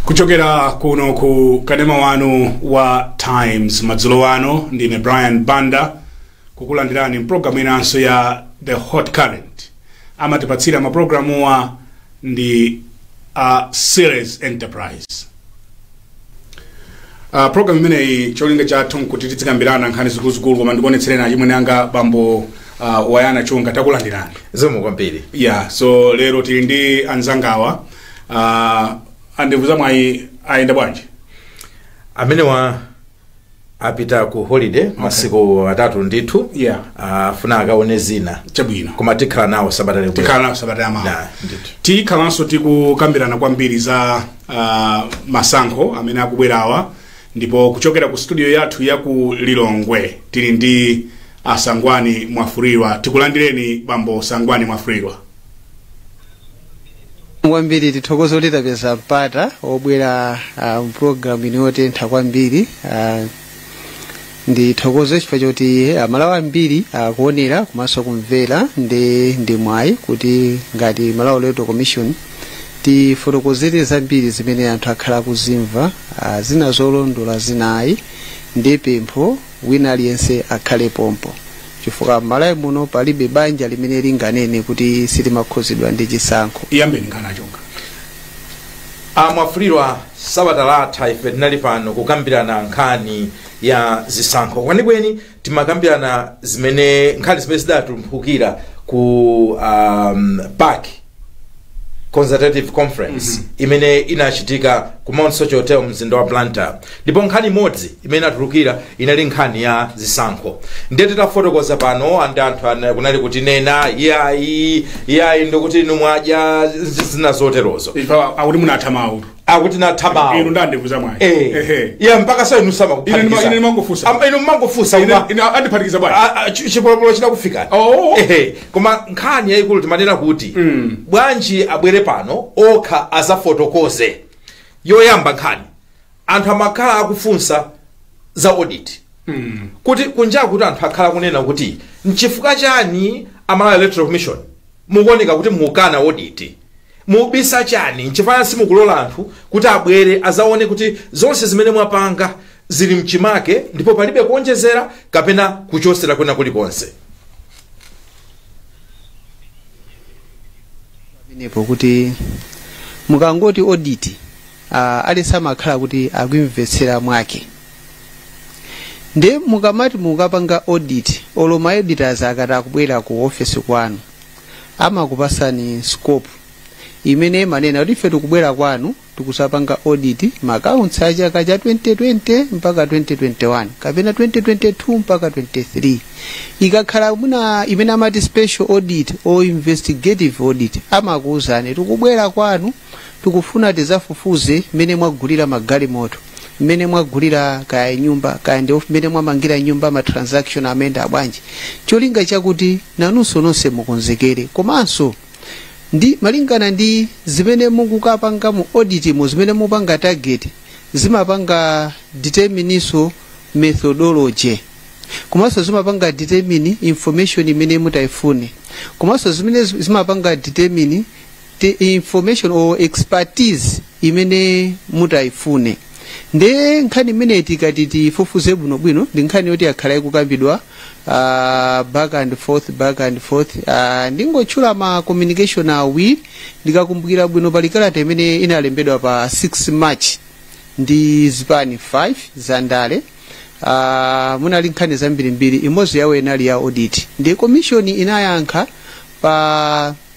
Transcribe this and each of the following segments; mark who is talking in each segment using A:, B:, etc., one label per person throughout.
A: kuchokera kuno ku kanema wanu wa times madzulo ano ndine brian banda kukulandirani mpulogalamu inanso ya the hot current amatipatsira mapulogalamuwa ndi a series enterprise Uh, program imeneyi cholinga chathu nkuti tidzikambirana nkhani zikuluzikulu koma ndikuonetsereni achimwene anga bambo uh, wayana chunga takulandirani zikomo
B: kwambiri yeah so
A: lero tili ndi anzangawa uh, andevu za mwayi ayenda bwanji
B: amenewa apita ku holiday masiku atatu ndithu Yeah. afuna
A: akaone zina
B: chabwino koma tikhala
A: nawo
B: sabata likuti. tikhala nawo sabata yamawa
A: Nah, ndithu.
B: tikhalanso
A: tikukambirana kwambiri za uh, masankho amene akubwerawa ndipo kuchokera ku studio yathu ya ku lilongwe tili ndi asangwani mwafulirwa tikulandireni bambo sangwani mwafulirwa
C: kwambiri tithokoze kuti tapeza mpata obwera uh, mpulogalamu ino yotentha kwambiri uh, ndithokoze chifukwa choti amalawi ambiri akuonera komanso kumvera ndi ndi mwayi kuti ngati malawi electoral commission tifotokozere zambiri zimene anthu akhala akuzimva uh, zina zolondola zina ayi ndi pempho wina aliyense akhale pompo chifukwa m'malawi muno palibe banja limene linganene kuti silimakhuzidwa ndi chisankho iyambeni ngana
A: chunga amwafulirwa
B: sabata latha ife tinali pano kukambirana nkhani ya zisankho kwenikweni timakambirana zimene nkhani zimene zidatumphukira ku um, pac consultative conference mm -hmm. imene inachitika ku mount soche hotel mzinda wa blantyre ndipo nkhani imodzi imene inatulukira inali nkhani ya zisankho ndiye titafotokoza pano andi anthu ana- kunali kutinena iyayi iyayi ndikuti inu mwadya zi- zina zoterozo Ife akuti munatha
A: mawu akuti tinatha
B: mawu inu ndi andevu za
A: mwayi Eh. Ehe. iye
B: mpaka so inu Ine ndima- ine ndimangofunsa. samakuphatikiza
A: inu mmangofunsa
B: Ine- ine
A: andiphatikiza bwanji A- a- chi- chipolopolo chinakufika
B: Oh. Ehe.
A: koma nkhani
B: yayikulu timanena kuti bwanji abwere pano okha azafotokoze yoyamba nkhani anthu amakhala akufunsa za audit kuti kunja kuti anthu akhala kunena kuti nchifukwa chani a malawi electoral commission Mukuoneka kuti mukukana audit. Mubisa chani? Nchifukwa simukulola anthu kuti abwere azaone kuti zonse zimene mwapanga zili mchimake ndipo palibe kuonjezera kapena kuchosera kwina kulikonse.
C: pamenepo kuti mukangoti audit ah, aliyense amakhala kuti akuimvetsera mwake nde mukamati mukapanga audit olo ma auditors akati akubwera ku office kwanu amakupasani scope imene imanena kuti ife tikubwera kwanu tikuzapanga audit ma accounts a chaka cha 2020 mpaka 2021 kapena 2022 mpaka 23 ikakhala mwina imene amati special audit or investigative audit amakuwuzani tikubwera kwanu tikufuna tizafufuze mmene mwagulira magalimoto mmene mwagulira kaya nyumba kaya ndi mmene mwamangira nyumba ma transaction amayenda bwanji cholinga chakuti nanunso nonse mukonzekere komanso ndi malingana ndi zimene mukukapanga mu auditmo zimene mukupanga target zimapanga determinenso methodology komanso zimapanga determine information imene mutayifune komanso zimene zimapanga determine the information or expertise imene mutayifune nde nkhani imene tikati tifufuze bwinobwino ndi nkhani yoti yakhala ikukambidwa uh, back and forth back and forth uh, ndingotchula ma communication awiri ndikakumbukira bwino pali kalata imene inalembedwa pa 6 march ndi zipani 5 za ndale uh, munali nkhani zambirimbiri imodzi yawo inali ya audit ndi komishoni inayankha pa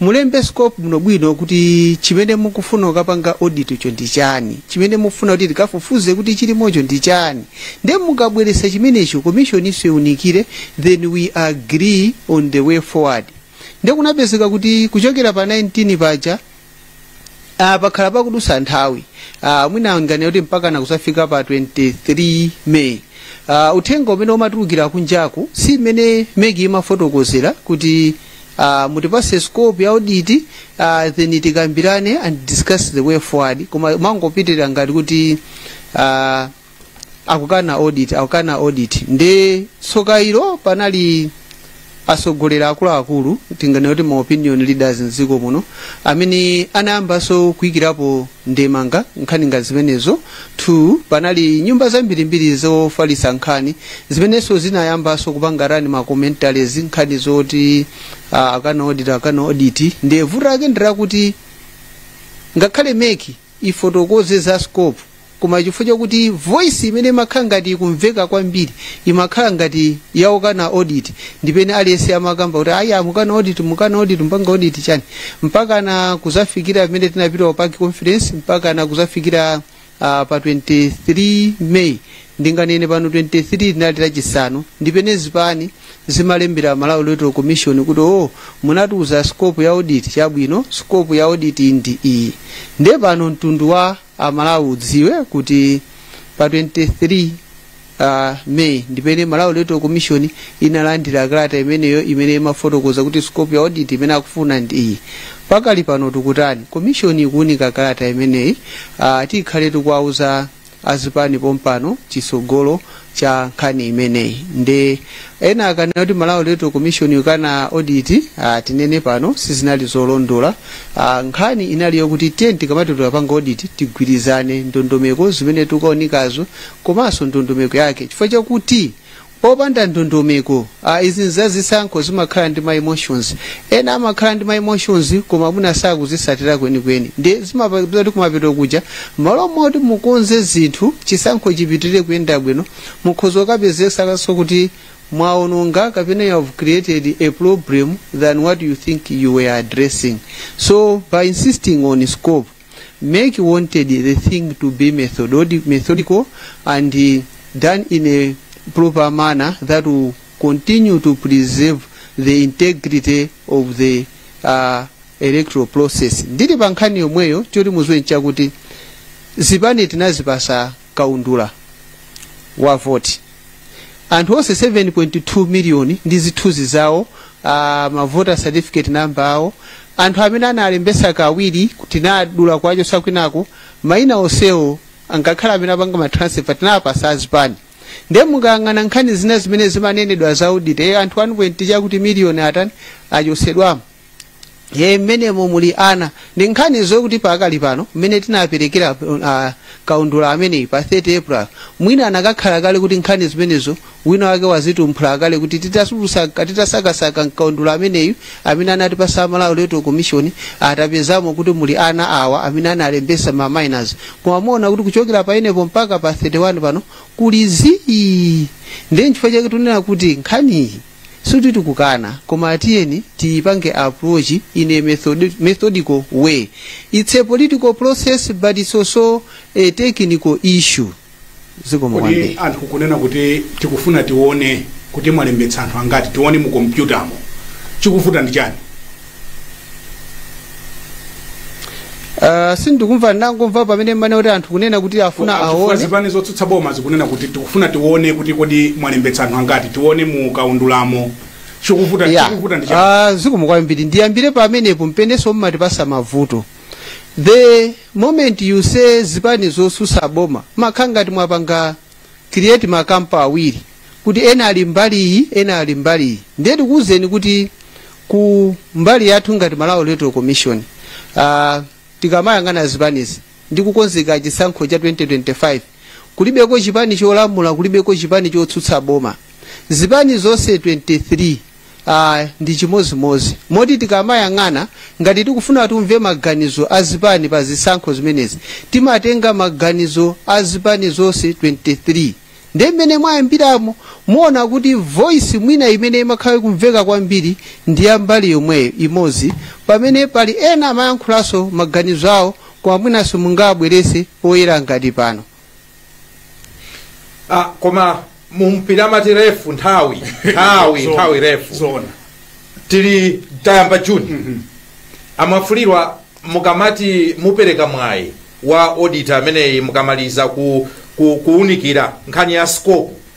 C: mulembe scope bwinobwino kuti chimene mukufuna kukapanga auditcho ndi chani chimene mukufuna kuti tikafufuze kuti chilimocho ndi chani ndiye mukabweretsa chimenecho commissioninso iunikire then we agree on the way forward ndiye kunapezeka kuti kuchokera pa 19 paja Ah, pakhala pakudusa nthawi ah, mwina ndinganene kuti mpaka nakuzafika pa 23 May ah, uthenga umene umatulukira kunjaku si imene MEC imafotokozera kuti ah, mutipase scope ya audit ah, then tikambirane and discuss the way forward koma umangopitirira ngati kuti ah, akukana audit akukana audit nde tsoka ilo panali atsogoleri akuluakulu tinganene kuti ma opinion leaders mdziko muno amene anayambanso kuyikirapo ndemanga nkhani ngati zimenezo two panali nyumba zambirimbiri zofalitsa nkhani zimenenso zinayambanso kupanga run ma commentaries nkhani zoti uh, akana audit akana audit nde vuto lake ndi lakuti ngakhale MEC ifotokoze za scope koma chifukwa chakuti voice imene imakhala ngati ikumveka kwambiri imakhala ngati ya okana audit ndi pamene aliyense amakamba kuti ayi mukana audit mukana audit mupanga audit chani mpaka na kuzafikira pamene tinapita ku PAC conference mpaka na kuzafikira uh, pa 23 may ndinganene pano 23 linali lachisanu ndi pamene zipani zimalembera malawi electoral commission kuti o munatiuza scope ya audit chabwino scope ya audit ndi iyi nde pano mtundu wa amalawi udziwe kuti pa 23 uh, may ndipene malawi electoral commission inalandira kalata imeneyo imene imafotokoza kuti scope ya audit imene akufuna ndi iyi pakali pano tikutani commission ikuunika kalata imeneyi uh, tikhale tikuwauza azipani pompano chisogolo cha nkhani imeneyi nde ena akanena kuti malawi electoral commission ikukana audit ah, tinene pano sizinali zolondola ah, nkhani inali yokuti ten tikamati tolapanga audit tigwirizane ndondomeko zimene tikukaunikazo komanso ndondomeko yake chifukwa chakuti popanda ndondomeko ah, izi nzazisankho zimakhala ndi ma emotions ena amakhala ndi ma emotions koma mwina sakuzisatira kwenikweni nde zimapezeka kuti kumapeto kuja malo moti mukonze zinthu chisankho chipitirire kuyenda bwino mukhoza kukapezekanso kuti mwaononga kapena you have created a problem than what you think you were addressing so by insisting on scope Mec wanted the thing to be methodic, methodical and uh, done in a proper manner that will continue to preserve the integrity of the uh, electoral process. Ndili pa nkhani yomweyo choti muziwe nchakuti zipani tinazipasa kaundula wa voti anthu onse 7.2 miliyoni ndi zithunzi zawo uh, mavota certificate number awo anthu amene analembesa kawiri tinadula kuwachosa kwinako maina onsewo ngakhale amene apanga matransfer tinapasa azipani ndiye mukayang'ana nkhani zina zimene zimanenedwa za audit eh, anthu 1.2 chakuti miliyoni atani achosedwamo ye mmenemo muli ana ndi nkhani zokuti pakali pano mmene tinaperekera uh, kaundula ameneyi pa 30 april mwina anakakhala kale kuti nkhani zimenezo wina wake wazitumphula kale kuti titasulusa- titasakasaka mkaundula ameneyu amene anatipasa a malawi electoral commission tapezamo kuti muli ana awa amene analembesa ma minors koma muona kuti kuchokera pamenepo mpaka pa 31 pano kuli zii ndiye nchifukwa chake tunena kuti nkhaniyi sikuti tikukana koma tiyeni tiyipange approach in a method, methodical way it's a political process but it's also a technical issue zikomo kodi
A: kwambiri anthu kunena kuti tikufuna tione kuti mwalembetsa anthu angati tione mu kompyutamo chikuvuta ndi chani
C: Uh, sindikumva ndangomva pamene mmanena kuti anthu kunena kuti afuna Chifukwa aone zipani zotsutsa boma
A: zikunena kuti tikufuna tione kuti kodi mwalembetsa anthu angati tione mu kaundulamo chikuvuta Yeah. chikuvuta ndi chani Ah, zikomo kwambiri
C: ndiyambire pamenepo mpenenso mmatipasa mavuto the moment you say zipani zotsutsa boma makhala ngati mwapanga create makampu awiri kuti ena ali mbali iyi ena ali mbali iyi ndiye tikuwuzeni kuti ku mbali yathu ngati malawi electoral commission uh, tikamayang'ana zipanizi ndi kukonzekera chisankho cha 2025 kulibeko chipani cholamula kulibeko chipani chotsutsa boma zipani zonse 23 Ah, ndi chimodzimodzi moti tikamayang'ana ngati tikufuna timve maganizo a zipani pa zisankho zimenezi timatenga maganizo a zipani zonse 23 ndi mmene mwayambiramo muona kuti voice mwina imene imakhala kumveka kwambiri ndi ya mbali yomweyo imodzi pamene pali ena amayankhulanso maganizo awo koma mwinanso mungawabwerese poyera ngati pano
B: ah, koma mumpira amati refu nthawi nthawi Zona. nthawi refu zona tili tayamba juni amafulirwa mukamati mupereka mwayi wa auditor ameneyi mukamaliza ku, ku, kuunikira nkhani ya scope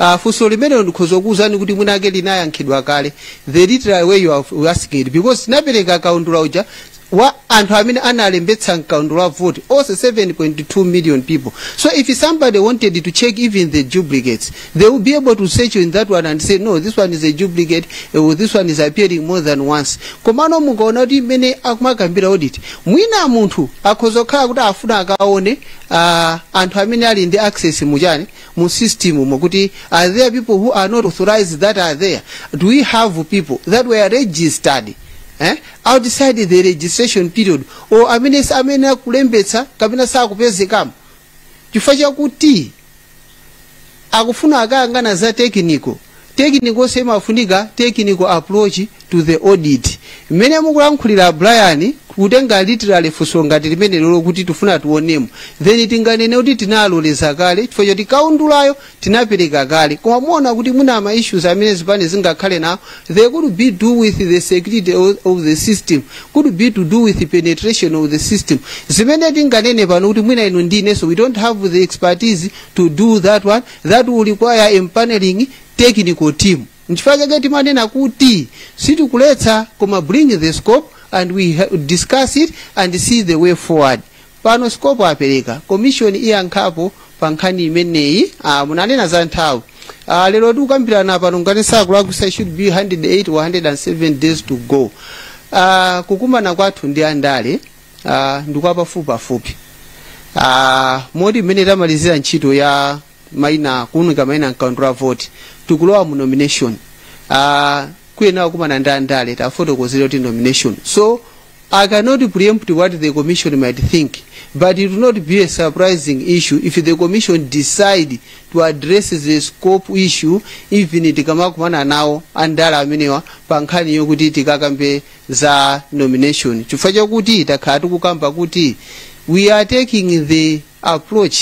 C: Uh, funso limenelo ndikhoza kukuwuzani kuti mwinamwake linayankhidwa kale the literal way you are you are asking it because tinapereka kaundula uja wa anthu amene analembetsa mkaundula wa vote onse 7.2 million people so if somebody wanted to check even the duplicates they will be able to search in that one and say no this one is a duplicate uh, this one is appearing more than once komano mukaona kuti mmene akumakambira audit mwina munthu akhoza kukhala kuti afuna akaone uh, anthu amene ali ndi access mujani mu system umo kuti are there people who are not authorized that are there do we have people that were registered eh? outside the registration period or amene sa- amene akulembetsa kapena sakupezekamo chifukwa chakuti akufuna akayang'ana za technical technicals zimafunika technical approach to the audit mmene mukulankhulira brian kutenga literally funso ngati limenelolo kuti tifuna tionemo then tinganene kuti tinaloleza kale chifukwa choti kaundulayo tinapereka kale koma muona kuti mwina ma issues amene zipani zingakhale nawo they could be do with the security of, of the system could be to do with penetration of the system zimene tinganene pano kuti mwina inu ndinenso we don't have the expertise to do that one that will require empaneling technical team nchifukwa chake timanena kuti sitikuletsa koma bring the scope and we ha- discuss it and see the way forward pano scope apereka commission iyankhapo pa nkhani imeneyi ah, munanena za nthawi ah, lero tikukambirana pano ngati sakulakwisa should be 108 or 107 days to go ah, kukumana kwathu ndi andale uh, ndi kwa pafupipafupi uh, moti mmene tamalizira ntchito ya maina kuunika maina mkaundula wa voti tikulowa mu nomination uh, kuyenera kumana ndi andale tiwafotokozere kuti nomination so I cannot preempt what the commission might think, but it will not be a surprising issue if the commission decide to address the scope issue even tikamakumana nawo andale amenewa pa nkhani yokuti tikakambe za nomination chifukwa chakuti takhala tikukamba kuti we are taking the approach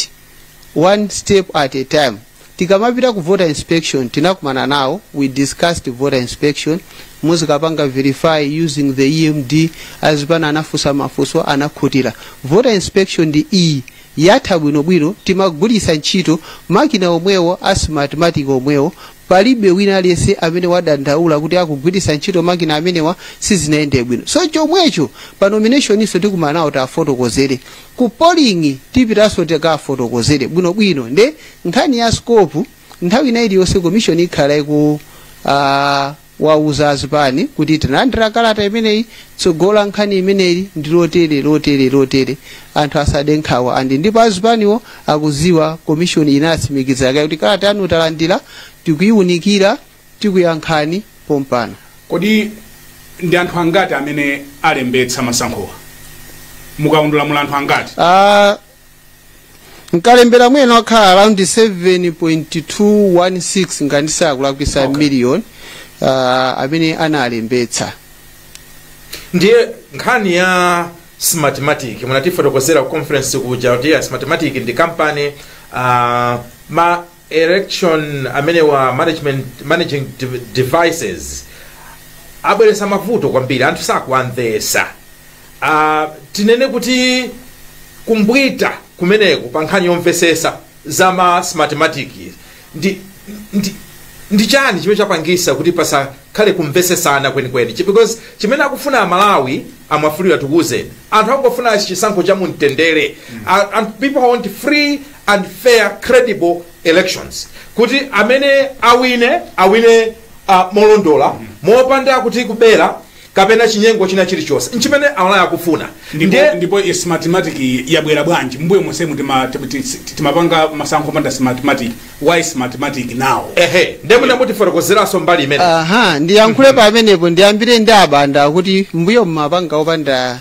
C: one step at a time tikamapita ku voter inspection tinakumana nawo we discussed voter inspection muzikapanga verify using the emd azipana anafunsa mafunso anakhutira voter inspection ndi iyi yatha bwinobwino timagwiritsa ntchito makina omwewo asmartmatic omwewo palibe wina aliyense amene wadandaula kuti akugwiritsa ntchito makina amenewa sizinayende bwino so chomwecho pa nominationinso tikumana nawo tiwafotokozere ku polling tipitanso tikafotokozere bwinobwino nde nkhani ya scope nthawi ina iliyonse commission ikhala iku uh, wauza azipani kuti tinalandira kalata imeneyi tsogolo la nkhani imeneyi ndi lotere lotere lotere anthu asade nkhawa and ndipo azipaniwo akuziwa komishoni inatsimikiza kaye kuti kalata yanu talandira tikuyiwunikira tikuyankhani pompano
A: kodi ndi anthu angati amene alembetsa masankhowa mukaundula muli anthu angati Ah,
C: mkalembera amene wakhala around 7.216 ngati sindikulakwisa okay. million uh, amene analembetsa
B: ndiye nkhani ya smartmatic munatifotokozera ku conference kuja kuti ya smartmatic ndi kampani uh, ma election amenewa management managing de- devices abweresa mavuto kwambiri anthu sakuwamvesa uh, tinene kuti kumbwita kumeneko pa nkhani yomvesesa za ma smartmatic ndi, ndi, ndi chani chimene chapangisa kuti pasakhale kumvesesana kwenikweni Chi- because chimene akufuna amalawi amwafulira tikuuzeni anthu akungofuna chisankho cha mumtendere A- and people want free and fair credible elections kuti amene awine awine uh, molondola mopanda kuti kubera kapena chinyengo china chilichonse nchimene amalawi akufuna ndipo Ndiye- ndipo i-
A: smartmatic iyi yabwera bwanji mbuyo monsemu tima- ti- ti- ti- timapanga masankho panda smartmatic why smartmatic now ehe ndiye
B: mwina mutifotokozeranso mbali imene aha ndiyankhule
C: pamenepo ndiyambire ndi abanda kuti mbuyo mmapanga opanda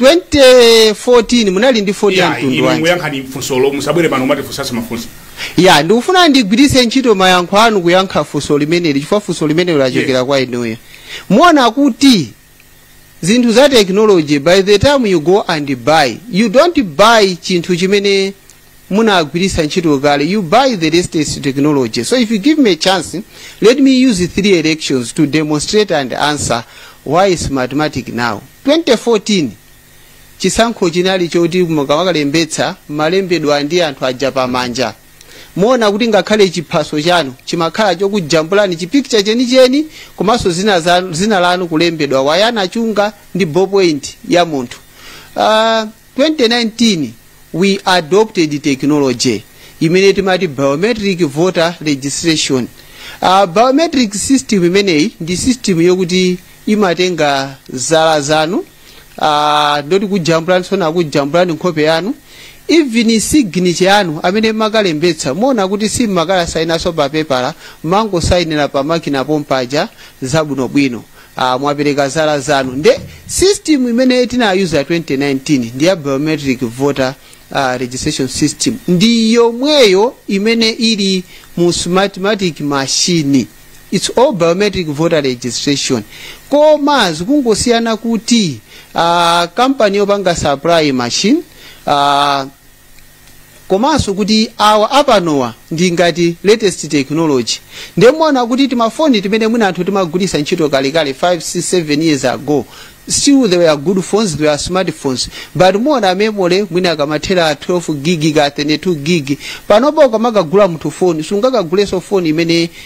C: 2014 munali ndi foni ya mtundu inu wanji muyankhe funsolo
A: musabwere pano muzitifunsanso mafunso ya ndikufuna
C: ndigwiritse ntchito mayankho anu kuyankha funso limeneli chifukwa funso limeneli lachokera Yes. kwa inuyo muona kuti zinthu za technology by the time you go and buy you don't buy chinthu chimene munagwiritsa ntchito kale you buy the latest technology so if you give me a chance let me use three elections to demonstrate and answer why Smartmatic now 2014 chisankho chinali choti mukawakalembetsa mumalembedwa ndi anthu aja pamanja muona kuti ngakhale chiphaso chanu chimakhala chokujambulani chipikcha chenicheni komanso dzina, dza- dzina lanu kulembedwa wayana chunga ndi ballpoint ya munthu uh, 2019 we adopted technology imene timati biometric voter registration uh, biometric system imeneyi ndi system yokuti imatenga zala zanu uh, nditi kujambulani sona kujambulani nkhope yanu even signature yanu amene makalembetsa muona kuti simumakasainanso pa pepala mangosayinira pa makina pompaja zabwinobwino Ah, mwapereka zala zanu nde system imene tinayuza 2019 ndi ya biometric voter uh, registration system ndi yomweyo imene ili mu smartmatic machine its all biometric voter registration koma zikungosiyana kuti uh, kampani yopanga supply machines uh, komanso kuti awa apanowa ndi ngati latest technology ndiye muona kuti timafoni timene mwina anthu timagwiritsa ntchito kalekale 5 6 7 years ago still they were good phones they were smartphones but muona memory mwina kamathera 12 gig ka 32 gig panopa ukamakagula munthu foni sungakagulenso foni imene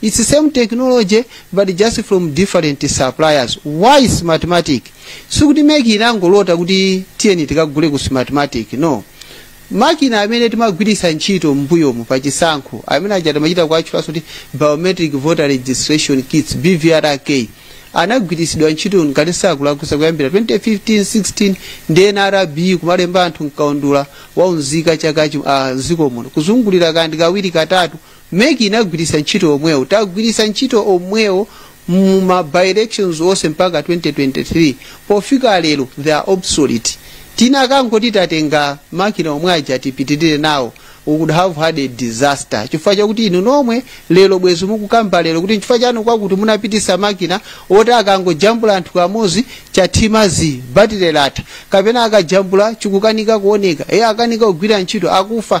C: It's same technology but just from different suppliers. Why Smartmatic? Sikuti MEC inangolota kuti tiyeni tikagule ku Smartmatic. No. makina amene timagwiritsa ntchito m'mbuyomu pa chisankho amene aja timachita kuatchulaso kuti biometric voter registration kits bvrk anagwiritsidwa ntchito ngati sindikulakwitsa kuyambira 2015 16 ndi nrb kumalemba anthu mkaundula wa unzika chakuti dziko muno kuzungulira kaya ndi kawiri katatu Mec inagwiritsa ntchito omwewo, tagwiritsa ntchito omwewo mu ma by elections onse mpaka 2023, pofika lero they are obsolete. Tikanangoti tatenga makina omwe aja tipitirire nawo we could have had a disaster chifukwa chakuti inu nomwe lero bwezi mukukamba lero kuti nchifukwa chani kwakuti munapitisa makina oti akangojambula anthu kamodzi chathima zii batire latha kapena akajambula chikukanika kuoneka e akanika kugwira ntchito akufa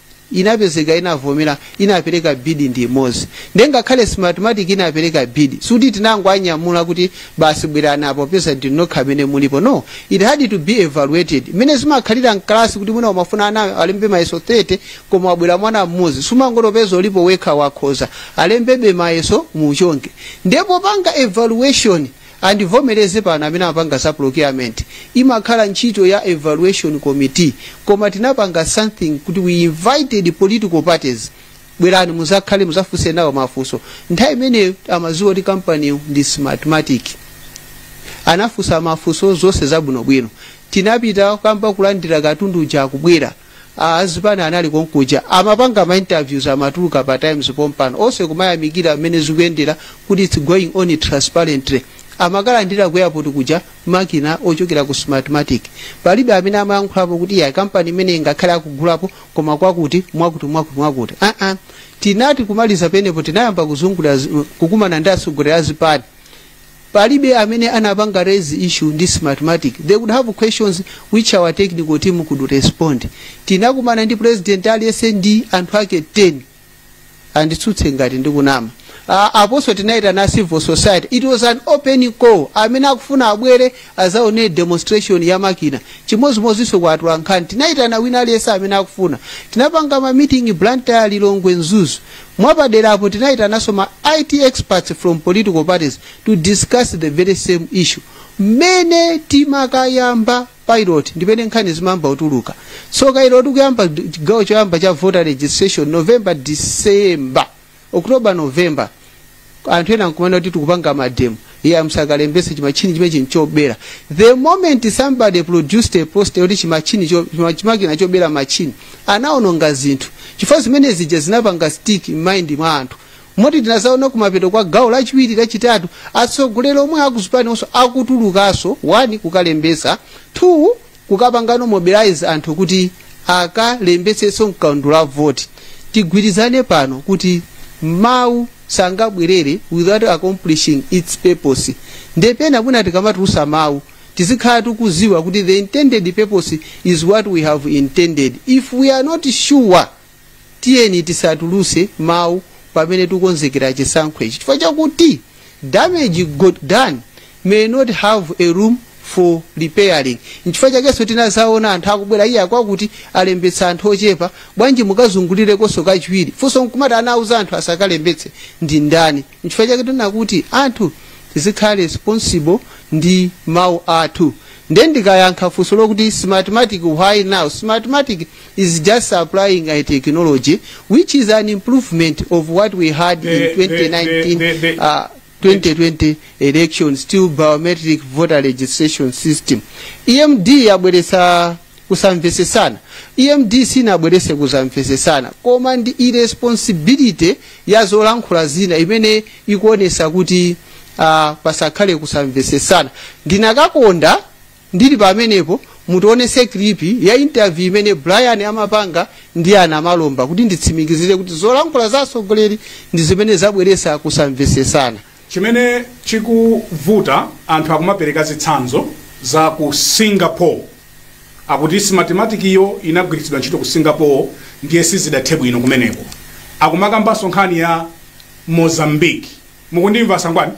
C: inapezeka inavomera inapereka bid ndi imodzi nde ngakhale smartmatic inapereka bid sikuti tinangoanyamula kuti basi bwerani apo popeza ndi nokha amene mulipo no it had to be evaluated mmene zimakhalira mkalasi kuti mwina umafuna ana alembe mayeso 30 koma wabwera mwana mmodzi sumangoti popeza ulipo wekha wakhoza alembebe mayeso muchonge nde popanga evaluation And ndivomereze pano amene amapanga za procurement, imakhala ntchito ya evaluation committee koma tinapanga something kuti we invited political parties, bwerani muzakhale muzafunse nawo mafunso. Nthawi imeneyo amadziwa kuti company ndi Smartmatic. Anafunsa mafunso zonse zabwinobwino. Tinapita kumakamba kulandira katundu uja akubwera. azipani anali konkuja amapanga ma interviews amatuluka pa times pompano onse kumayamikira mmene zikuyendera kuti its going on transparently amakalandira ku airport kuja makina ochokera ku smartmatic palibe amene amayankhulapo kuti ya kampani imeneyi ngakhale akugulapo koma kwakuti mwakuti mwakuti mwakuti uh -uh. tinati kumaliza penepo tinayamba kuzungulira zi- kukumana ndi atsogoleri azipani palibe amene anapanga raise issue ndi smartmatic they could have questions which our technical team could respond tinakumana ndi president aliyense ndi anthu ake 10 anditsutse ngati ndikunama Ah, aponso tinayitana civil society it was an open call amene akufuna abwere azaone demonstration ya makina chimodzimodzinso kwa atolankhani tinayitana wina aliyense amene akufuna tinapanga ma meeting blantyre lilongwe mzuzu Mwapadera apo tinayitananso ma IT experts from political parties to discuss the very same issue. Mmene timakayamba pilot ndipene nkhani zimayamba kutuluka. So kayiro tikuyamba chigawo choyamba cha voter registration November December October November anthu ena nkumanena kuti tikupanga mademo iyayi musakalembese chimatchini chimene chinchobera the moment somebody produced a poster yoti chimatchini cho- chima- chimakina chobera matchini anaononga zinthu chifukwa zimene zija zinapanga stick mind mwa anthu moti tinazaona kumapeto kwa gawo lachiwiri lachitatu atsogoleri omwe akuzipani onso akutulukaso one kukalembesa two kukapangano mobilize anthu kuti akalembetseso mkaundula wa voti tigwirizane pano kuti mawu sangabwerere without accomplishing its purpose nde pena mwina tikamatulusa mawu tizikhala tikuziwa kuti the intended purpose is what we have intended if we are not sure tiyeni tisatuluse mawu pamene tikonzekera chisankho ichi chifukwa chakuti damage got done may not have a room for repairing nchifukwa chakenso tinazaona anthu akubwera iyayi akwakuti alembetsa anthu ochepa bwanji mukazungulirekonso kachiwiri funso nkumati anauza anthu asakalembetse ndi ndani nchifukwa chake tinakuti anthu tizikhala responsible ndi mawu athu nde ndikayankha funso lokuti smartmatic why now smartmatic is just applying a technology which is an improvement of what we had in 2019, 2020 election still biometric voter registration system emd yabweresa kusamvesesana emd sinabwerese kusamvesesana koma ndi irresponsibility ya zolankhula zina imene ikuonesa kuti uh, pasakhale kusamvesesana ndinakakonda Ndili pamenepo mutionese clip ya interview imene Brian amapanga ndi ana Malomba kuti nditsimikizire kuti zolankhula za atsogoleri ndi zimene zabweresa kusamvesesana. chimene
A: chikuvuta anthu akumapereka zitsanzo za ku singapore akuti smartmatic iyo inagwiritsidwa ntchito ku singapore ndiye sizidathe bwino kumeneko akumakambanso nkhani ya mozambique mukundimva a Sangwani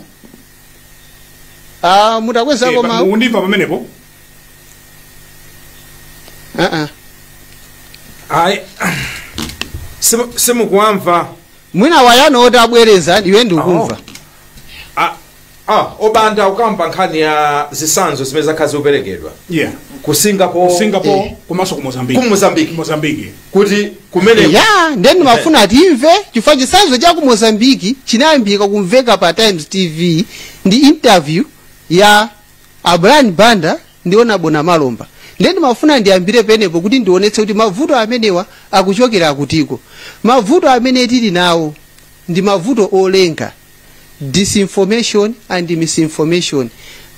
C: Ah, mutakwezako Eh, pa- mawu mukundimva
B: pamenepo Ah, ah. ayi simu- simukuwamva mwina
C: wayano oti abwereza iwe ndikumva Ah,
B: ah, o Banda ukamba nkhani ya zisanzo zimene zakhala zikuperekedwa yeah ku
A: singapore,
B: singapore komanso ku mozambique
A: ku mozambique mozambique
B: kuti kumeneko ya ndiye
C: ndimafuna timve chifukwa chisanzo cha ku mozambique chinayambika kumveka pa times tv ndi interview ya a brian banda ndi onabo na malomba ndiye ndimafuna ndiyambire penepo kuti ndionetse kuti mavuto amenewa akuchokera akutiko mavuto amene tili nawo ndi mavuto olenga disinformation and misinformation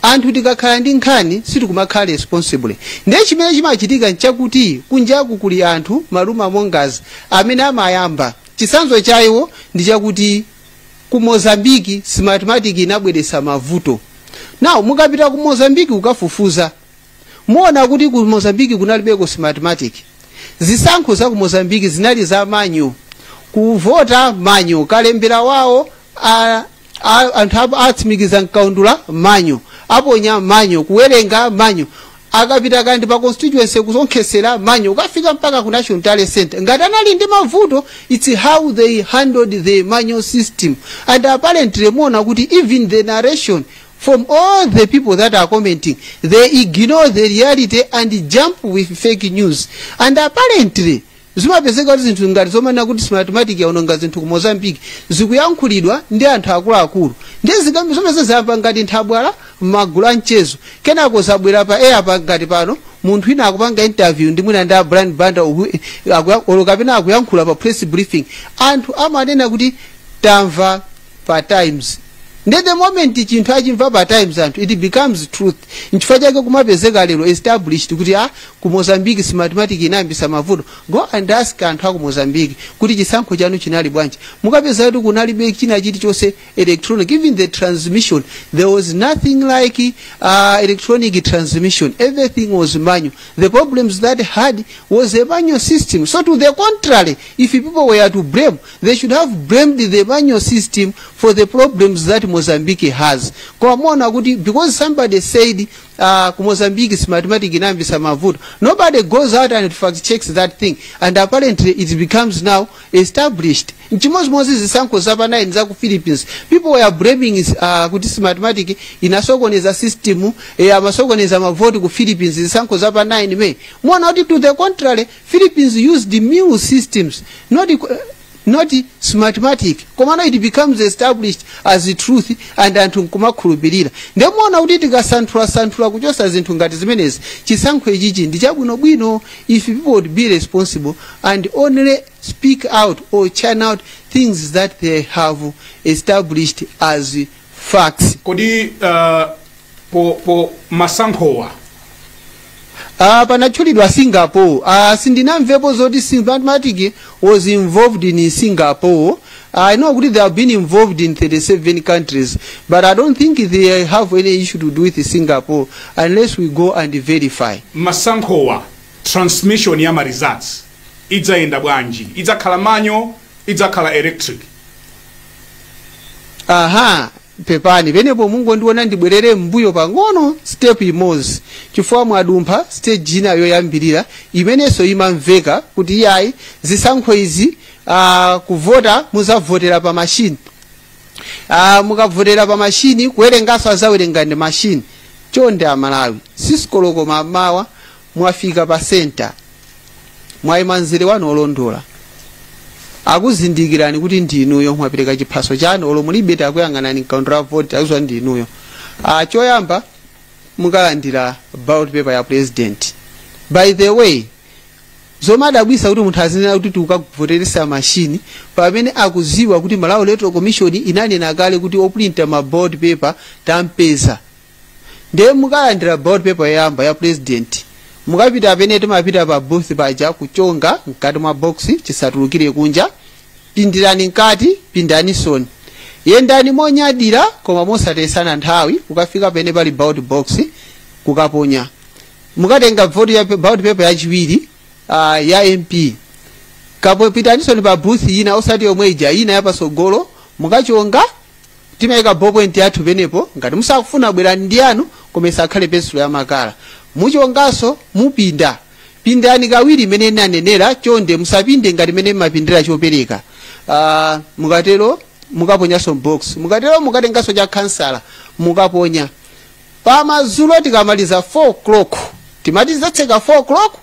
C: anthu tikakhala ndi nkhani sitikumakhala responsible ndiye chimene chimachitika nchakuti kunjaku kuli anthu ma rumour mongers amene amayamba chisanzo cha iwo ndi chakuti ku mozambique smartmatic inabweretsa mavuto now mukapita ku mozambique kukafufuza muona kuti ku mozambique kunalibeko smartmatic zisankho za ku mozambique zinali za manual kuvota manual kalembera wawo a- a- anthu ap- atsimikiza mkaundula manual aponya manual kuwerenga manual akapita kandi pa constituency kusonkhesera manual ukafika mpaka ku national tally center ngati anali ndi mavuto it's how they handled the manual system and apparently muona kuti even the narration From all the people that are commenting, they ignore the reality and jump with fake news. And apparently, zimapezeka kuti zinthu ngati zomanena kuti smartmatic yaononga zinthu ku mozambique zikuyankhulidwa ndi anthu akuluakulu ndiye nkhani zomwe zayamba ngati nthabwala m'magulu a mchezo kenako zabwera pa air pa ngati pano munthu wina akupanga interview ndi mwina ndi a brian banda uku- akuya- olo kapena akuyankhula pa press briefing anthu amanena kuti tamva pa times nde the moment chinthu achimva pa times anthu it becomes truth nchifukwa chake kumapezeka lero established kuti a ku mozambique Smartmatic inayambisa mavuto go and ask anthu aku mozambique kuti chisankho chanu chinali bwanji mukapeza kuti kunalibe china chilichonse electronic even the transmission there was nothing like uh, electronic transmission everything was manual the problems they had was a manual system so to the contrary if people were to blame they should have blamed the manual system for the problems that mozambique has koma muona kuti because somebody said uh, ku mozambique Smartmatic inayambisa mavuto nobody goes out and fact checks that thing and apparently it becomes now established nchimozimozi zisankho zapa 9 za ku philippines people were blaming uh, kuti Smartmatic inasokoneza system eh, amasokoneza mavoti ku philippines zisankho zapa 9 may muona kuti to the contrary Philippines used Miru systems, not, not smartmatic. Komano it becomes established as the truth and anthu nkumakhulupirira. Nde muona kuti tikasanthula-santhula kuchosa zinthu ngati zimenezi, chisankho ichichi ndi chabwino-bwino if people would be responsible and only speak out or churn out things that they have established as facts kodi
A: uh, po, po masankhowa
C: Ah, panatchulidwa singapore ah, sindinamvepo zoti Smartmatic was involved in singapore i know kuti they have been involved in 37 countries but i don't think they have any issue to do with singapore unless we go and verify masankhowa
A: transmission ya ma results idzayenda bwanji idzakhala manual idzakhala electric
C: aha pepani penepo mungondilola ndibwerere m'mbuyo pang'ono step imodzi chifukwa mwadumpha stage ina yoyambirira imenenso imamveka kuti iyayi zisankho izi uh, kuvota muzavotera pa mashini uh, mukavotera pa mashini kuwerenganso azawerenga ndi mashini chonde amalawi six koloko mamawa Mwafika pa senta. Mwaima mzere wanu olondola. Akuzindikirani kuti ndi inuyo mwapereka chiphaso chanu olo mulibe takuyang'anani mkaundula voti akuziwa ndi inuyo. Ah, choyamba mukalandira ballot paper ya president. By the way, zimadabwisa kuti munthu azinena kuti tikukavoteresa mashini pamene akuziwa kuti malawi electoral commission inanena kale kuti oprinta ma ballot paper tampeza ndiye mukalandira ballot paper yoyamba ya president mukapita pene timapita pa booth paja kuchonga mkati mwa box chisatulukire kunja pindirani mkati pindanisoni yendani monyadira koma mosatesana nthawi ukafika pene pali ballot box kukaponya mukatenga vote ya ballot paper yachiwiri uh, ya mp kapitanisoni pa booth ina osati yomwe ija ina yapasogolo mukachonga timayika ballpoint yathu penepo ngati musakufuna bwerani ndi yanu koma isakhale pensulo ya makala muchonganso mupinda pindani kawiri imene inanenera chonde musapinde ngati mmene mumapindira chopereka uh, mukatero mukaponyanso box mukatero mukatenganso cha khansala mukaponya pamazulo tikamaliza 4 o'clock timati tizatseka 4 o'clock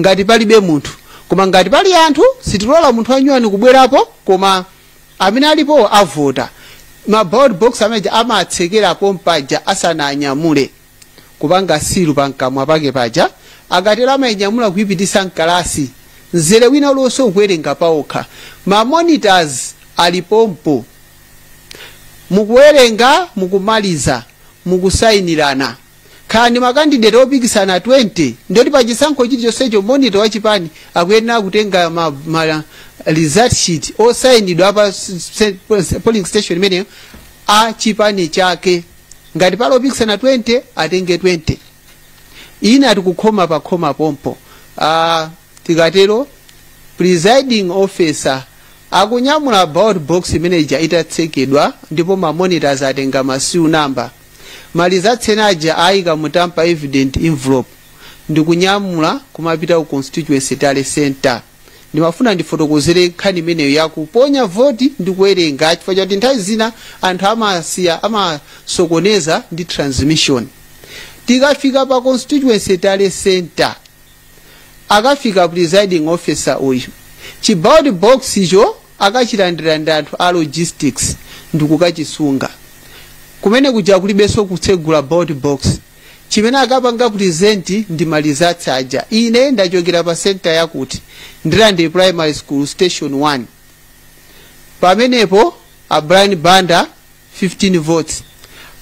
C: ngati palibe munthu koma ngati pali anthu sitilola munthu anyuwani kubwerapo koma amene alipo avota ma ballot box amene aja amatsekera pompaja asananyamule kupanga silu pamkamwa pake paja akatero amainyamula kuipititsa mkalasi mzere wina uliwonse ukuwerenga paokha ma monitors ali pompo mukuwerenga mukumaliza mukusayinirana khala ndi makandideti opikisana 20 ndoti pa chisankho chilichonsecho monitor wa chipani akuyenera kutenga ma, ma result sheet osayinidwa pa s- s- polling station imeneyo a chipani chake ngati pali opikisana 20 atenge 20 ina tikukhoma pa khoma pompo ah, tikatero presiding officer akunyamula ballot box mmanja itatsekedwa ndipo ma monitors atenga ma seal number Ma results amene aja aika mu tamper evident envelope ndikunyamula kumapita ku constituency tally centre. Ndimafuna ndifotokozere nkhani imeneyo ya kuponya voti ndi kuwerenga chifukwa chakuti nthawi zina anthu amasiya amasokoneza ndi transmission. Tikafika pa constituency tally centre, akafika presiding officer uyu chiballot box icho akachilandira ndi anthu a logistics ndikukachisunga kumene kuja kulibenso kutsegula ballot box chimene akapanga present ndi ma results aja ine ndachokera pa center yakuti ndirande primary school station 1 pamenepo a brian banda 15 votes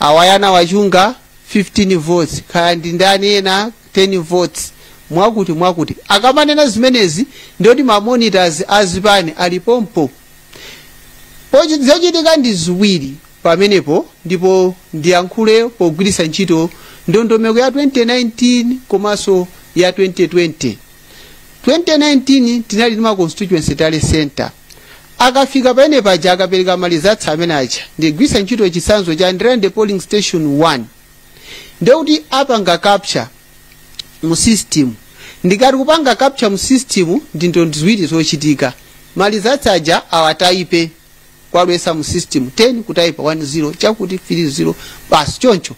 C: awayana wachunga 15 votes kaya ndi ndani ena 10 votes mwakuti mwakuti akamanena zimenezi ndoti ma monitors a zipani ali pompo Pochi- zochitika ndi ziwiri pamenepo ndipo ndiyankhule pogwiritsa ntchito ndondomeko ya 2019 komanso ya 2020 2019 tinali ndi ma constituency tally center akafika pene paja akapereka ma results amene aja ndigwiritsa ntchito chitsanzo cha ndirande polling station 1 ndekuti apanga capture mu system ndikati kupanga capture mu system ndi zinthu ziwiri zochitika malizatsi aja awatayipe kuwalowesa mu system 10 kutayipa 10 chakuti 30 basi choncho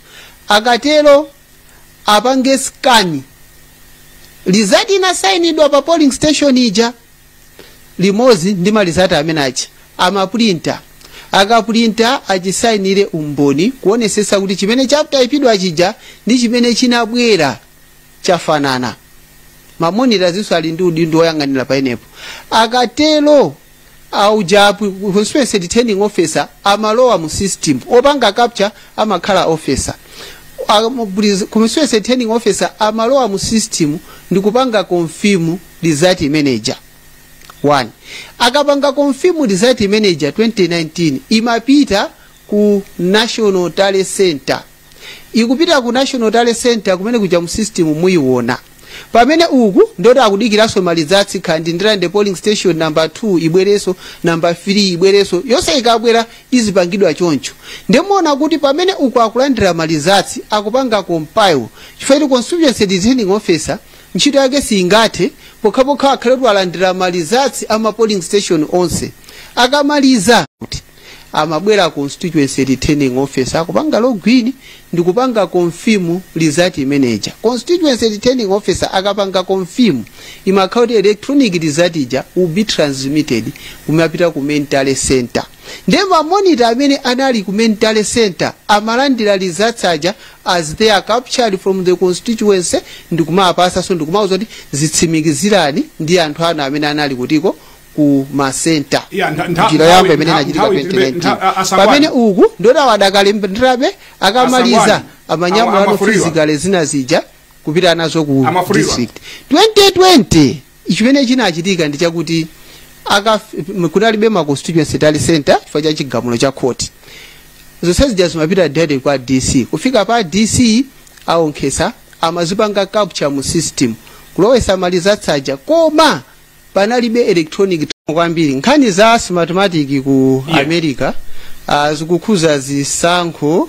C: akatero apange scan result inasayinidwa pa polling station ija limodzi ndi malizati amene aja amapulinta akapulinta achisainire umboni kuonesesa kuti chimene chataipidwa chija ndi chimene chinabwera chafanana mamonita winso ali ndi udindo woyang'anira pamenepo akatero auja constituency returning officer amalowa mu system opanga capture amakhala officer constituency returning officer amalowa mu system ndikupanga confirm result imene ija akapanga confirm result imene ija 2019 imapita ku national tally center ikupita ku national tally center kumene kuja mu system muyiona pamene uku nditi akudikiranso malizatsi kaya ndi ndirande polling station number 2 ibwereso number 3 ibwereso yonse ikabwera izipangidwa choncho ndimuona kuti pamene uku akulandira malizatsi akupanga compile chifukwa kuti constituency returning officer Ntchito yake siingathe pokhapokha akhale kuti walandira malizatsi a ma polling station onse. Akamaliza kuti amabwera constituency returning officer kupanga login ndi kupanga confirm result imeneja. Constituency returning officer akapanga confirm imakhala kuti electronic result ija will be transmitted kumapita ku main tally center. Ndiye ma monitor amene anali ku main tally center amalandira results aja as they are captured from the constituency ndikumawapasanso ndikumauza kuti zitsimikizirani ndi anthu anu amene anali kutiko ku masenta njira yoyamba imene inachitika 2019 pamene uku nditi awadakalandirabe akamaliza amanyamulano physically zina zija kupita nazo ku district 2020 chimene chinachitika ndi chakuti kunalibe ma constituency tally center chifukwa cha chigamulo cha khoti zonse zija zimapita direct kwa dc kufika pa dc aonkhesa amazipanga capture mu system kulowesa malizatsi aja koma panalibe electronic kwambiri nkhani za smartmatic ku america zikukhuza zisankho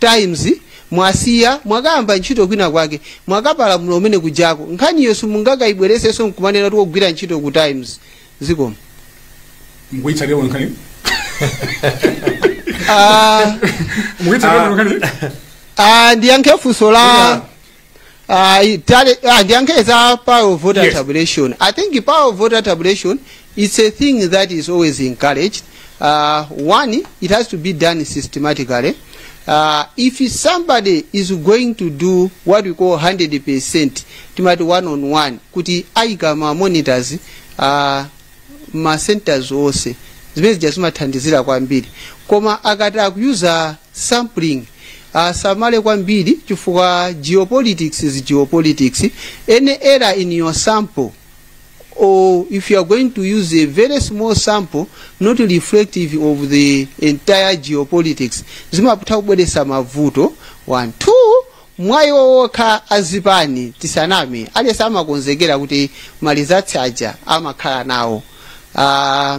C: Times mwasiya mwakayamba ntchito kwina kwake mwakapalamula kumene kujako nkhaniyo simungakaibweresenso nkumanena kuti wogwira ntchito ku times zikomo
A: mukuitsatira bwino nkhani Ah,
C: mukuitsatira bwino nkhani ah, ndiyankhe funso la ayi tale ah, ndiyankhe za power of voter Yes. tabulation i think power of voter tabulation it's a thing that is always encouraged uh, one it has to be done systematically uh, if somebody is going to do what we call 100% timati one on one kuti ayika ma monitors uh, ma centers onse zimene zija zimathandizira kwambiri koma akati akuyuza sampling asamale kwambiri chifukwa geopolitics is geopolitics any error in your sample or if you are going to use a very small sample not reflective of the entire geopolitics zimatha kubweretsa mavuto one two mwayi wokhawo azipani tisaname aliyense amakonzekera kuti ma results aja amakhala nawo uh,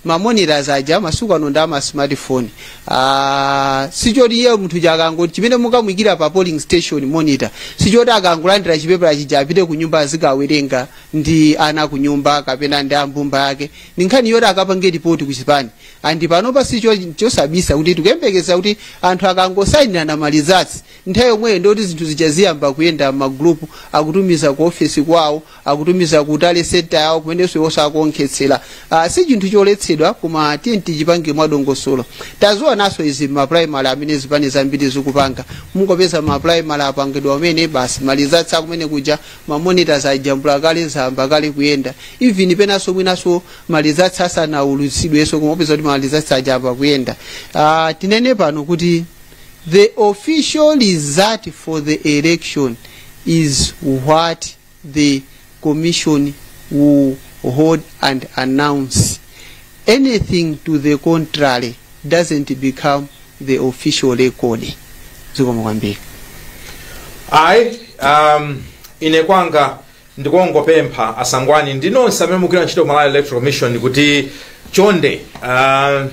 C: ma monitors aja masiku ano ndi ama smartphone ah, sichoti iye munthu chakangoti chimene mukamuyikira pa polling station monitor sichoti akangolandira chipepala chija apite ku nyumba azikawerenga ndi ana ku nyumba kapena ndi mbumba yake ndi nkhani yoti akapange ripoti ku chipani and panopa si chobisa kuti tikuyembekeza kuti anthu akangosayinirana ma results nthawi yomweyo ndiyoti zinthu zija ziyamba kuyenda m'magulupu akutumiza ku ofesi kwawo akutumiza ku tally center yawo kumenenso iwonso akuonkhetsera uh, si chinthu choletsedwa koma tiye tichipange mwadongosolo tazionanso izi, maprimary amene zipani zambiri zikupanga mumangopeza maprimary apangidwa kumene basi ma results akumene kuja mamonitors ajambula kale zayamba kale kuyenda even penanso mwinanso ma results asanaulutsidwenso kumapeza kuti ma results aja ayamba kuyenda uh, tinene pano kuti the official result for the election is what the Commission will hold and announce. Anything to the contrary doesn't become the official record. Zikomo kwambiri.
B: ayi um, ine kwanga ndikungopempha asangwani ndi nonse amene mukugwira ntchito ku malawi electoral commission kuti chonde um,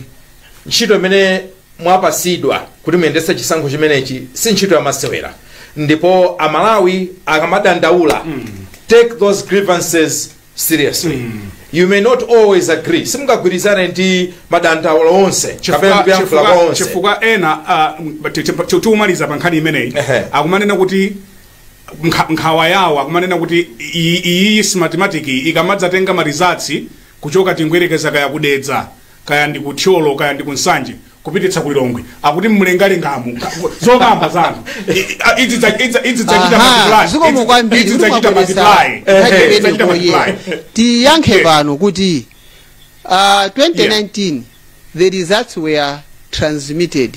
B: ntchito imene mwapatsidwa kuti muyendetse chisankho chimenechi si ntchito yamasewera ndipo amalawi akamadandaula take those grievances seriously you may not always agree simungagwirizane ndi madandaulo onse kapena ndi kuyankhula kwa onse chifukwa ena
A: ah, m- ti- ti- ti- timalize pa nkhani imeneyi Ehe. akumanena kuti nkha- nkhawa yawo akumanena kuti iyi- iyi Smartmatic ikamadzatenga ma results kuchoka tingoyerekeza kaya ku Dedza kaya ndi ku thyolo kaya ndi ku nsanje kupititsa ku lilongwe akuti mlengalengamu zokamba zanu idzi dzachita Aha, zikomo kwambiri idzi kuti dzachita mwabweretsa multiply
C: nkhani Idzi dzachita imeneyo multiply poyera. tiyankhe pano kuti uh, 2019 the results were transmitted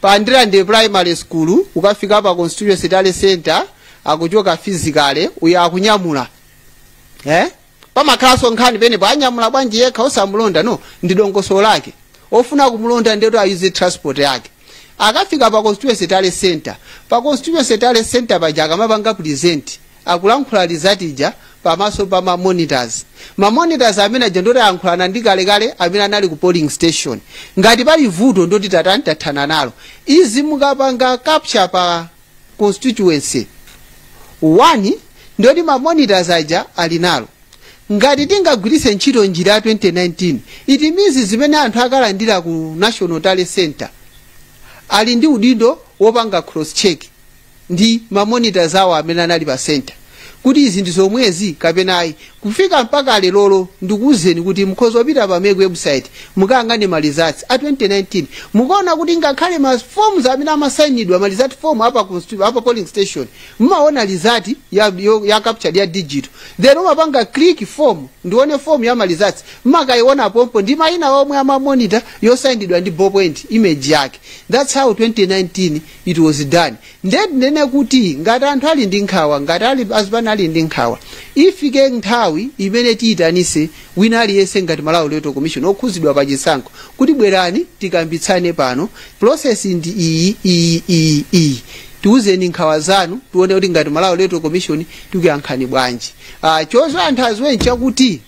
C: Pa Ndirande primary school kukafika pa constituency tally center akuchoka physically uja akunyamula. Eh? Pamakhalanso nkhani penepo anyamula bwanji yekha osamulonda no ndi dongosolo lake. Ofuna kumulonda nde ayuze transport yake. Akafika pa constituency tally center. Pa constituency tally center paja akamapanga present akulankhula Lidzatija pamaso pa ma monitors. Ma monitors amene aja ndoti ayankhulana ndi kale kale amene anali ku polling station. Ngati pali vuto ndoti tatani tathana nalo. Izi mukapanga capture pa constituency one ndoti ma monitors aja ali nalo. Ngati tingagwiritse ntchito njira ya 2019, it means zimene anthu akalandira ku National Tally Center ali ndi udindo wopanga cross check ndi ma monitors awo amene anali pa center kuti izi ndi zomwezi kapena ayi kufika mpaka lerolo ndikuwuzeni kuti mukhoza kupita pa mec website mukayang'ane ma results a 2019 mukaona kuti ngakhale ma forms amene amasainidwa ma result form apa, constitu- apa polling station mumaona result ya, yo- ya captured ya digital then umapanga click form ndione form ya ma results mmakaiona pompo ndi mayina omwe ama monitor yosainidwa ndi ballpoint image yake that's how 2019 it was done nde tinene kuti ngati anthu ali ndi nkhawa ngati ali azipani ali ndi nkhawa ifike nthawi imene tiyitanise wina aliyense ngati malawi electoral commission okhuzidwa pa chisankho kuti bwerani tikambitsane pano process ndi iyi iyi iyi iyi tiuzeni nkhawa zanu tione kuti ngati malawi electoral commission tikuyankhani bwanji uh, chozo anthu aziwe nchakuti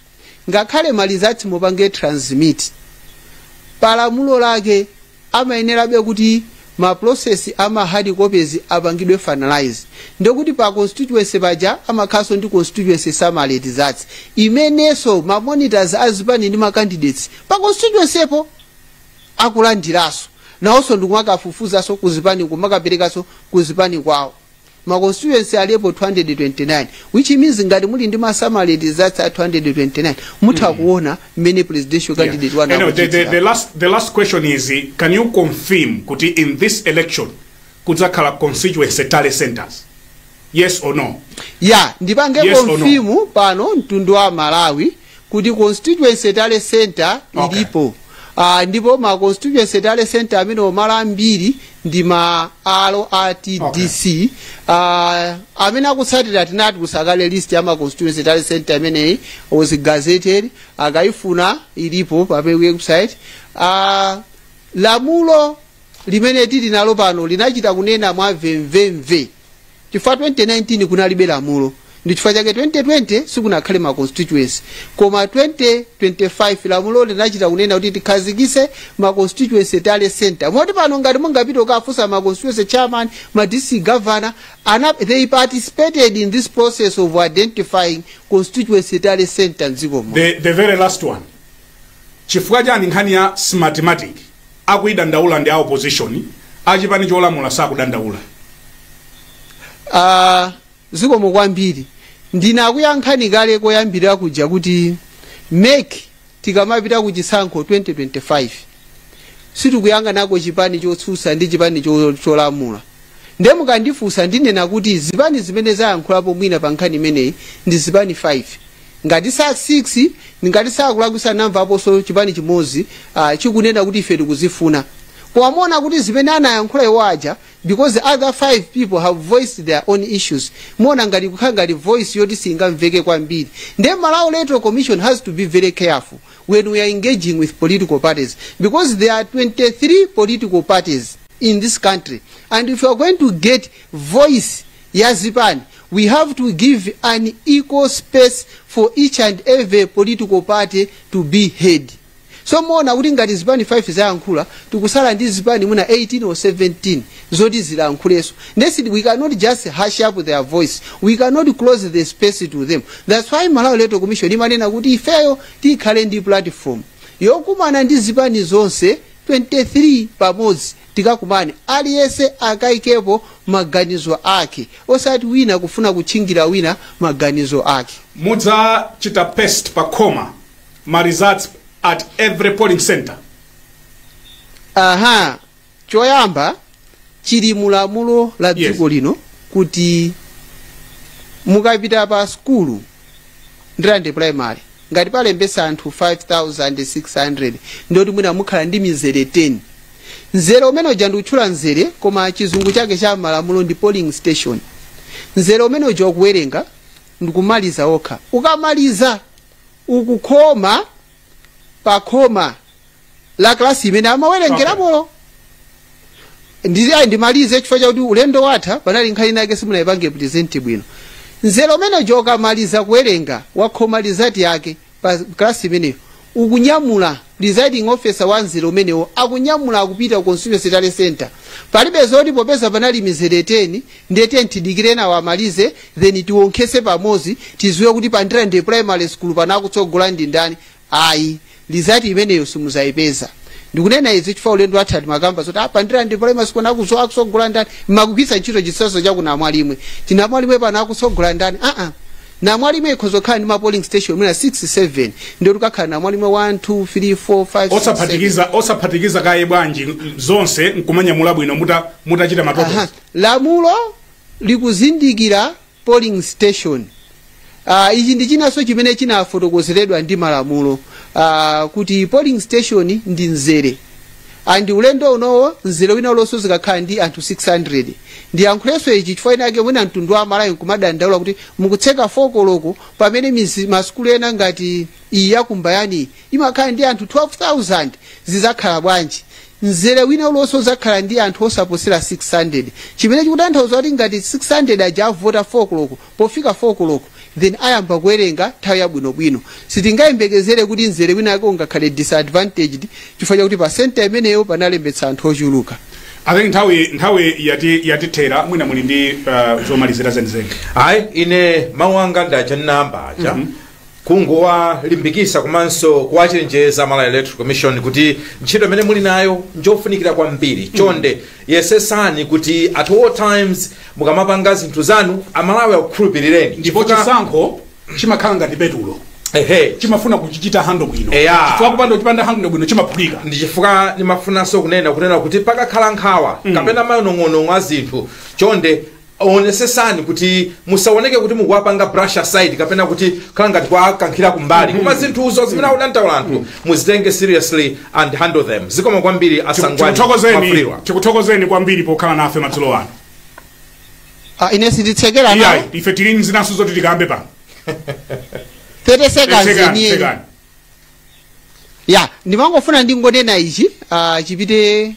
C: ngakhale ma results mupange transmit pa lamulo lake amayenerabe kuti ma process ama hard copies apangidwe finalize ndikuti pa constituency paja amakhalanso ndi constituency summary results imenenso ma monitors a zipani ndi ma candidates pa constituency po akulandiranso nawonso ndikumakafufuzaso kuzipani kumakaperekanso kuzipani kwawo ma constituency alipo 229 which means ngati muli ndi ma summary results a 229 mutha kuona mmene presidential Yeah. candidate wanu Anyway, the, the, akuchitira. the, last, the last
A: question is eh, can you confirm kuti in this election kudzakhala constituency tally centers yes or no ya ndipange
C: Yes or no? confirm pano mtundu wa malawi kuti constituency tally center Okay. ilipo Ah, ndipo ma constituency tally center amene mwa ambiri ndi ma hall a tdc Ah, amene akutsatira tinatulutsa kale list ya ma constituency tally center amenewa was gazetted akayifuna ilipo pa website Ah, lamulo limene tili nalo pano linachita kunena mwa mvemvemve chifukwa 2019 kunalibe lamulo ndi chifukwa chake 2020 sikunakhale ma constituency koma 2025 lamulo linachita kunena kuti tikhazikise ma constituency tally center moti pano ngati mungapite kukafunsa ma constituency chairman ma district governor ana, they participated in this process of identifying constituency tally center mdziko muno the, the very last one
A: chifukwa chani nkhani ya smartmatic akuidandaula ndi a opposition, a chipani cholamula sakudandaula.
C: Ah, zikomo kwambiri ndinakuyankhani kale koyambirira kuja kuti mec tikamapita ku chisankho 2025 sitikuyang'anako chipani chotsutsa ndi chipani cho- cholamula nde mukandifunsa ndinena kuti zipani zimene zayankhulapo mwina pa nkhani imeneyi ndi zipani 5 ngati sa 6 ngati sakulakwisa namvaponso chipani chimodzi uh, chikunena kuti ife tikuzifuna koma muona kuti zimene anayankhula iwo aja because other five people have voiced their own issues muona ngati kukhala ngati voice yoti singamveke kwambiri nde malawi electoral commission has to be very careful when we are engaging with political parties because there are 23 political parties in this country and if you are going to get voice ya zipani we have to give an equal space for each and every political party to be heard so muona kuti ngati zipani 5 zayankhula tikusala ndi zipani mwina 18 or 17 zoti zilankhulenso nesidi we cannot just hush up their voice we cannot close the space to them that's why malawi electoral commission imanena kuti ifeyo tikhale ndi platform yokumana ndi zipani zonse 23 pamodzi tikakumane aliyese akaikepo maganizo ake osati wina kufuna kutchingira wina maganizo ake. mudzachita
A: paste pa khoma ma results at every polling center aha
C: choyamba chili mulamulo la Yes. dziko lino kuti mukapita pa sukulu ndirande primary ngati palembesa anthu 5600 ndoti mwina mukhala ndi mizere 10 mzere umene uja ndikutchula mzere koma chizungu chake cha malamulo ndi polling station mzere umene uja ukuwerenga ndikumaliza okha ukamaliza ukukhoma pa khoma la klasi imene amawerengerapolo ndizi ayi ndimalize chifukwa chakuti ulendo watha panali nkhani nake simunayipange present bwino nzere umene uja ukamaliza kuwerenga wakhoma lizati yake pa klasi imeneyo ukunyamula presiding officer wa nzero umenewo akunyamula akupita ku constituency tally center palibe zoti popeza panali mizere 10 ndiye tiyeni tidikire nawo amalize then tiwonkhese pamodzi tiziwe kuti pa ndirande primary school pano akutsogola ndi ndani ayi lizati imeneyo simuzayipeza ndikunena izi chifukwa ulendo watha timakamba zoti apa ndirande primary school pano akutsogola ndani mmagwiritsa ntchito chitsanzo cha ku namwalimwe kuti namwalimwe pano akutsogola ndani aa namwalimwe ikhoza kukhala ndi ma polling station mwina 6 7 ndiye tikakhala namwalimwe 1 2 3 4 5 6, 7. osaphatikiza osaphatikiza kaye bwanji
A: zonse nkumanyamula bwino muta mutachita ma total Aha.
C: Lamulo likuzindikira polling station. Uh, ichi ndi chinanso chimene chinafotokozeredwa ndi malamulo uh, kuti polling station ndi mzere and ulendo unowo mzere wina ulonso zikakhala ndi anthu 600 ndiyankhulenso ichi chifukwa chinake mwina mtundu wa Malawi nkumadandaula kuti mukutseka 4 koloko pamene mizi- masukulu ena ngati iyi yakumbayani imakhala ndi anthu 12000 zizakhala bwanji Mzere wina uliwonse udzakhala ndi anthu osaposera 600, chimene chikutanthauza kuti ngati 600 aja avota 4 koloko, pofika 4 koloko then ayamba kuwerenga nthawi yabwinobwino. Sitingayembekezere kuti mzere winawake ungakhale disadvantaged chifukwa chakuti pa center imeneyo panalembetsa anthu ochuluka. I think
A: nthawi nthawi yati yatithera mwina muli ndi uh, zomalizira zenizeni ayi ine
B: mawu anga ndi aja ndinayamba aja kungowalimbikisa komanso kuwachenjeza Malawi Electoral Commission kuti ntchito imene muli nayo njofunikira kwambiri chonde yesesani kuti at all times mukamapanga zinthu zanu amalawi akukhulupirireni ndipo Chifukwa-
A: chisankho chimakhala ngati petulo ehe chimafuna kuchichita handle bwino Eya. chifukwa kupanda kuchipanga handle bwino chimaphulika ndi chifukwa
B: ndimafunanso kunena kunena kuti pakakhala nkhawa kapena manong'onong'o a zinthu chonde onesesani kuti musaoneke kuti mukuwapanga brush aside kapena kuti khala ngati kuwakankhira kumbali koma zinthuzo zimene akudandaula anthu muzitenge seriously and handle them zikomo kwambiri a Sangwani tikuthokozeni Mwafulirwa tikuthokozeni kwambiri
A: pokhala nafe madzulo
C: ano Ah, ine sinditsekera iyayi nawo ife tili ndi zinanso
A: zoti tikambe pano
C: 30 seconds Tsekani, enieni tsekani. ya ndimangofuna ndingonena ichi ah, chipite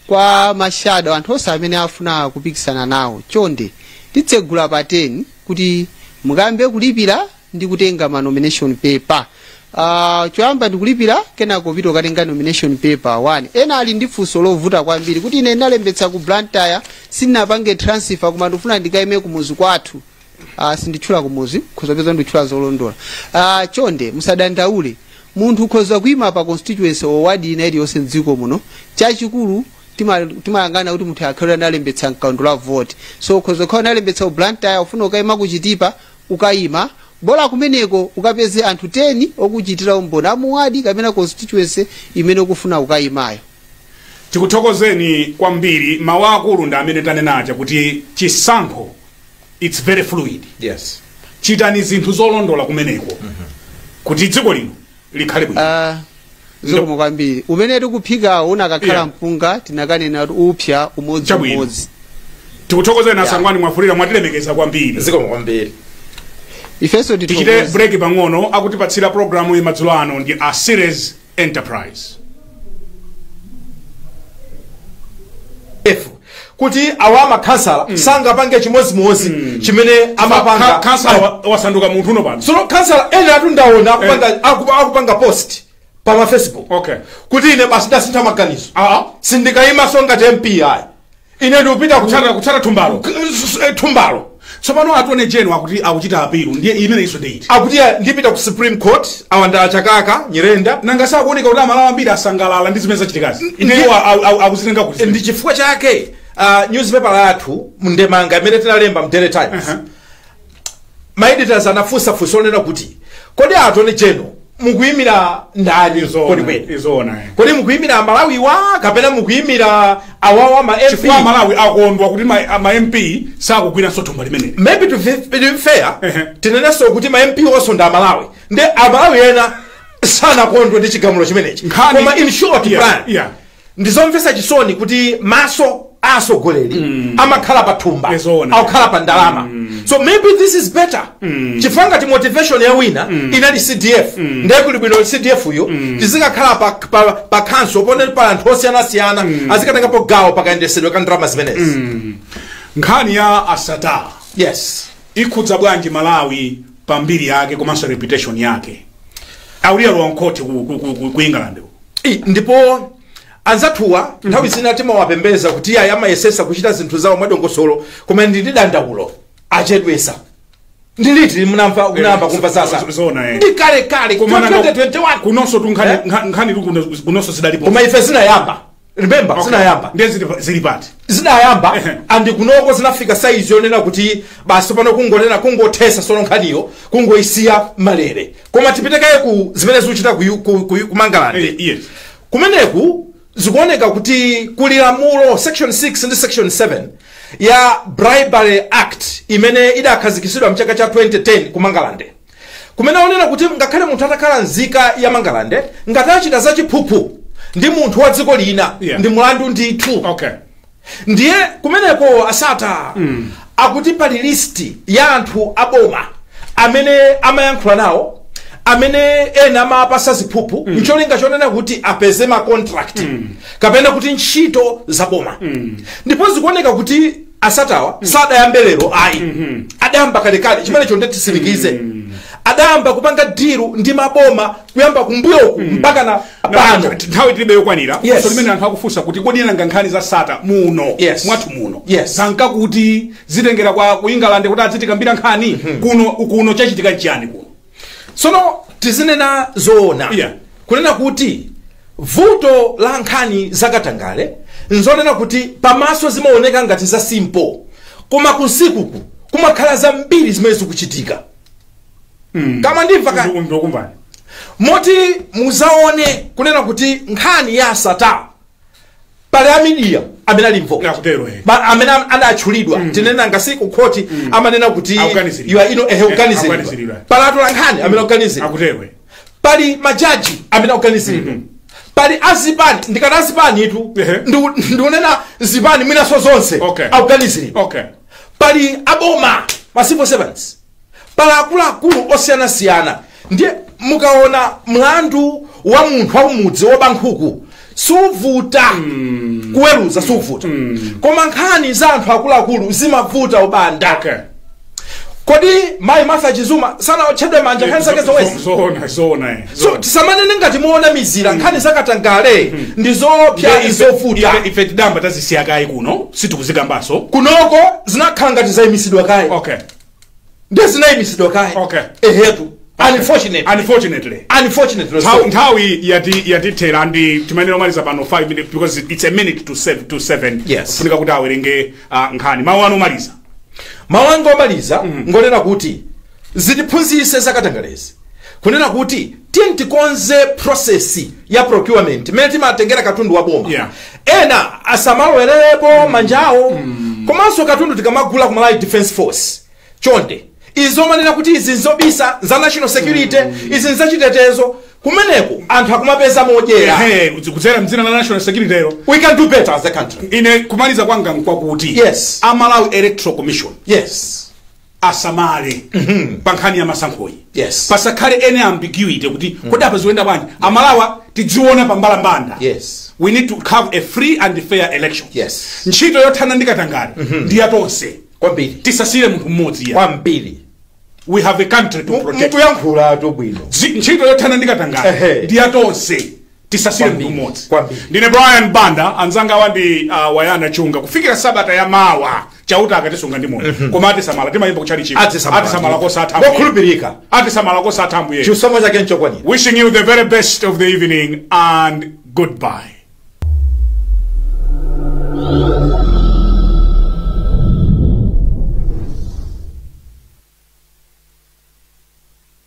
C: kwa ma shadow anthu onse amene afuna kupikisana nawo chonde titsegula pa 10 kuti mukayambe kulipira ndi kutenga ma nomination paper Uh, choyamba ndikulipira kenako kupita ukatenga nomination paper 1 ena ali ndi funso lovuta kwambiri kuti ine ndinalembetsa ku Blantyre sindinapange transfer koma ndikufuna ndikaime kumuzi kwathu uh, sinditchula kumuzi khoza peza nditchula zolondolola uh, chonde musadandaule munthu khoza kuima pa constituency or ward ina iliyonse mdziko muno chachikulu tima- timayangana kuti munthu akhale analembetsa mkaundula wa voti so khoza khala analembetsa ku Blantyre ufuna ukaima ku Chitipa ukaima bola kumeneko ukapeze anthu 10 okuchitira umboni a mu ward kapena constituency imene ukufuna ukaimayo tikuthokozeni
A: kwambiri mawu akulu ndi amene tanenaja kuti chisankho it's very fluid
B: yes chitani
A: zinthu zolondola kumeneko kuti dziko lino likhale bwino Ah, zikomo
C: kwambiri umene tikuphikawo unakakhala Yeah. mpunga tinakanena kuti upsa umodzi Chabwino. umodzi
A: tikuthokozeni a Sangwani Mwafulirwa mwatilemekeza kwambiri zikomo
B: kwambiri ifenso
C: tichite tithokoze break
A: pang'ono akutipatsira programu ya madzulo ano ndi a series
B: enterprise F, kuti awa makhansala sangapange chimodzimodzi chimene Ka- amapanga khansala wa-
A: wasanduka munthu uno pano sono khansala
B: ena atundaona akupanga, akupa- akupanga post pa ma facebook Okay. kuti ine
A: basi ndasintha
B: maganizo Ah, ah. sindikayimaso ngati mpi ayi ine ndikupita kutsata kutsata thumbalo
A: K- s- s- eh,
B: thumbalo tsopano
A: atone jeno akuti akuchita apilu ndiye imeneyinso ndeyiti akuti ah, ndipita ku
B: supreme court a Thabo Chakaka nyirenda nanga sakuoneka kuti
A: amalawa ambiri asangalala ndi zimene zachitikazi Ndi- iyeyo akuzitenga kuti ndi chifukwa chake
B: uh, newspaper yathu mndemanga imene tinalemba mu daily times Uh-huh. ma editors anafunsa funso lonena kuti kodi a attorney general mukuyimira ndani kodi kweni zoona kodi mukuyimira amalawiwa kapena mukuyimira awawa ma mp chifukwa amalawi akondwa
A: kuti ma a- ma mp sakugwiranso thumba limeneli maybe to be to
B: be fair Ehe. tinenenso kuti ma mp onso ndi amalawi ndi amalawi ena sanakondwa ndi chigamulo chimenechi Nkhani- koma in short Yeah, plan yeah. ndizomvetsa chisoni kuti maso a atsogoleri amakhala pa thumba Eh zoona. akukhala pa ndalama so maybe this is better chifukwa ngati motivation ya wina inali cdf ndiye kuli bwino cdf yo tizikakhala pa, pa, pa council ponena kuti anthu osiyanasiyana azikatengapo gawo pakayendesedwe ka ndalama zimenezi nkhani
A: ya a Sattar yes ikhudza bwanji malawi pa mbiri yake komanso reputation yake alowa mkhoti ku, ku, ku, ku, ku england uko. Eh, ndipo
B: anzathuwa nthawi zina timawapembeza kuti iyayi amayesesa kuchita zinthu zawo mwadongosolo koma ndili ndi dandaulo achedwesa ndi liti munamva munayamba kumva za Sattar zo- zoona, eh. ndi kale kale Koma nanga- 2021 kunonso tu nkhani
A: Eh? nkha- nkhani tu kuno- kunonso zidalipo koma ife zinayamba
B: remember Okay. zinayamba ndiye zili- zili
A: pati zinayamba
B: Ehe. andi kunoko zinafika saizi yonena kuti basi pano kungonena kungothesa sono nkhaniyo kungoisiya malere koma tipite kaye ku zimene zikuchitika ku, ku, ku, ku Eh, mangalande yes. kumeneku zikuoneka kuti kuli lamulo section 6 ndi section 7 ya bribery act imene idakhazikitsidwa mchaka cha 2010 ku mangalande kumene akunena kuti ngakhale munthu atakhala nzika ya mangalande ngati achita zachiphuphu ndi munthu wa dziko lina Yeah. ndi mulandu ndithu okay ndiye kumeneko a Sattar mm. akuti pali listi ya anthu aboma amene amayankhula nawo amene ena amawapasa ziphuphu mm. ncholinga chonena kuti apeze macontract mm. kapena kuti ntchito za boma mm. ndipo zikuoneka kuti a Sattar-wa sadayambe lero ayi adayamba kalekale chimenecho nde titsindike adayamba kupanga diru ndi maboma kuyamba kumbuyoku mpaka na pano Ntha- nthawi tilibe
A: yokwanira Yes. Funso limene anthu akufunsa kuti kodi nanga nkhani za Sattar muno Yes. mwathu muno Yes. zanka kuti zitengera wa ku england kuti azitikambira nkhani kuno kuno chachitika nchiyani kuno
B: tsono tizinena zoona Yeah. kunena kuti vuto la nkhani zakatangale nzonena kuti pamaso zimaoneka ngati za simple koma kunsikuku kumakhala zambiri zimene zikuchitika koma ndimva ka Ndu- ndukumvani moti muzaona kunena kuti nkhani ya a Sattar pali amidiya amene ali involved Mukutero, eh. Ba- amene am- adatchulidwa tinena ngati ku khoti amanena kuti Akuganiziridwa. you are ino ehe Eh, akuganiziridwa. akuganiziridwa pali atolankhani amene akuganiziridwa mukutero eh.
A: pali
B: majaji amene akuganiziridwa pali azipani ndikati azipanitu Ehe. ndiku- ndikunena zipani mwinaso zonse Okay. akuganiziridwa okay pali aboma ma civil servants pali akuluakulu osiyanasiyana ndiye mukaona mlandu wa munthu wakumudzi woba nkhuku suvuta kuweruza suvuta koma nkhani za anthu akuluakulu zimavuta a banda okay kodi mayi martha chizuma sanaotchedwa manja nkhani zake zomwezi zoona zoona eh. so Zoona. tisamanene ngati mowanamizira nkhani zakatangale ndi zoopsa Ife- ife- zovuta ife- ife tidayamba tazisiya
A: kaye kuno sitikuzikambaso kunoko
B: zinakhala ngati zaimisidwa kaye okay ndiye zinayimitsidwa kaye Okay. ehetu unfortunate unfortunately unfortunate Nthawi-
A: nthawi yati- yatithera nde timanena omaliza pano 5 minutes because it's a minute to 7 to 7 Yes. kufunika kuti awerenge ah, nkhani mawu anu omaliza mawu anga
B: omaliza ngonena kuti zitiphunzitse zakatangalezi kunena kuti tiyeni tikonze process ya procurement mmene timatengera katundu wa boma Yeah. ena asamalowererepo manja awo komanso katundu tikamagula ku malawi defence force chonde izi zomanena kuti izi nzobisa za national security izi nzachitetezo kumeneko anthu akumapeza modyera Ehe, kudzera mdzina
A: la national security lero we can do better as
B: a country ine kumaliza kwanga
A: nkwakuti Yes. a malawi electoral commission yes asamale pa nkhani ya masankhoyi Yes. pasakhale any ambiguity kuti kodi apa zikuyenda bwanji amalawi tidziona pa mbalambanda Yes. we need to have a free and fair election Yes. ntchito yothana ndi katangale ndi ya tonse kwambiri
B: tisasiyire munthu
A: mmodzi yeah
B: kwambiri we have
A: a country to protect mukuyankhulatu bwino
B: Zi- ntchito yothana ndi
A: katangale Ehe. ndi ya tonse tisasiyire munthu Kwambiri, mmodzi kwambiri. ndine brian banda anzangawa ndi uh, wonder msiska chunga kufikira sabata ya mawa chauta akatisunga ndi moyo koma atisamala timayimba kutchalitchiko Atisamala. atisamala kosatha ambuye. Mokhulupirika.
B: atisamala kosatha
A: ambuye chisomo chake nchokwanira
B: wishing you the very
A: best of the evening and goodbye